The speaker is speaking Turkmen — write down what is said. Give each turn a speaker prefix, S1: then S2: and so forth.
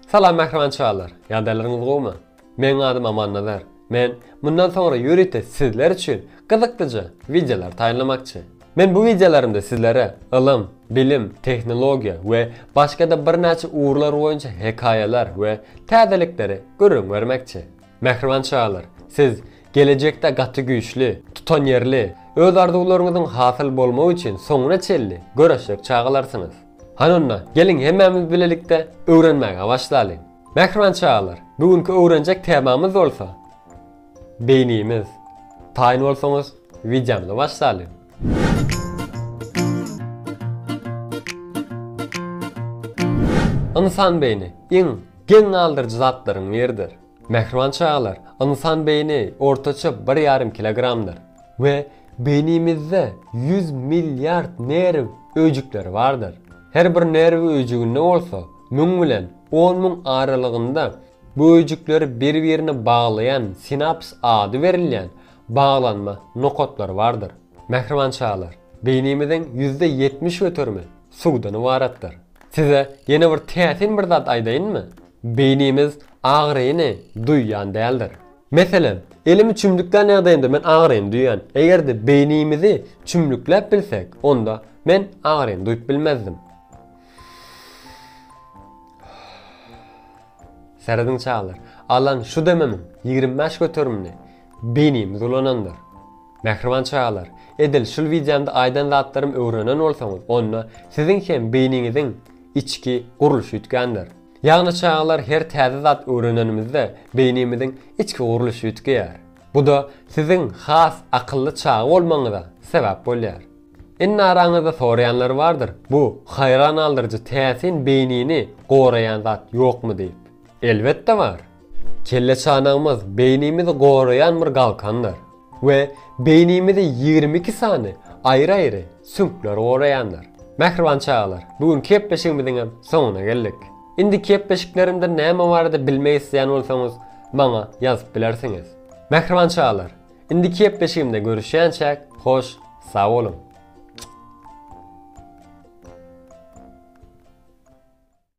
S1: Salam mähriban çagalar! Ýagdaýlaryňyz gowumy? Meniň adym Amannazar. Men mundan soňra ýörite sizler üçin gyzyklyja wideolar taýynlamakçy. Men bu wideolarymda sizlere ylym, bilim, tehnologiýa we başga-da birnäçe ugurlar boýunça hekaýalar we täzelikleri gürrüň bermekçi. Mähriban çagalar, siz gelejekde gaty güýçli, tutanýerli, öz arzuwlaryňyzyň hasyl bolmagy üçin soňuna çenli göreşjek çagalarsyňyz. Hany onda, geliň hemmämiz bilelikde öwrenmäge başlalyň. Mähriban çagalar, bu günki öwrenjek temamyz bolsa Beýnimiz. Taýyn bolsaňyz, wideomyza başlalyň. Ynsan beýni iň geň galdyryjy zatlaryň biridir. Mähriban çagalar, ynsan beýni ortaça bir ýarym kilogramdyr we beýnimizde ýüz milliard nerw öýjükleri bardyr. Her bir nerw öýjüginde bolsa müň bilen on müň aralygynda bu öýjükleri bir-birine baglaýan sinaps ady berilýän baglanma nokatlary bardyr. Mähriban çagalar, beýnimiziň ýüzde ýetmiş göterimi suwdan ybaratdyr. Size ýene bir täsin bir zat aýdaýynmy? Beýnimiz agyryny duýýan däldir. Meselem, elimi çümlüklän ýagdaýymda men agyryny duýýan. Eger-de beýnimizi çümlükläp bilsek, onda men agyryny duýup bilmezdim. Serediň çagalar, alan şu demimiň ýigrimi bäş göterimini beýnimiz ulanandyr. Mähriban çagalar, edil şul wideomda aýdan zatlarymy öwrenen bolsaňyz, onda siziň hem beýniňiziň içki gurluşy üýtgändir. Ýagny çagalar her täze zat öwrenenimizde beýnimiziň içki gurluşy üýtgeýär. Bu-da siziň has akylly çaga bolmagyňyza sebäp bolýar. Indi araňyzda soraýanlar bardyr, bu haýran galdyryjy täsin beýnini goraýan zat ýokmy diýip. Elbetde bar! Kelleçanagymyz beýnimizi goraýan bir galkandyr we beýnimizi ýigrimi iki sany aýry-aýry süňkler goraýandyr. Mähriban çagalar, bu günki gepleşigimiziň hem soňuna geldik. Indiki gepleşiklerimde näme barada bilmek isleýän bolsaňyz, maňa ýazyp bilersiňiz. Mähriban çagalar, indiki gepleşigimde görüşýänçäk, hoş, sag boluň!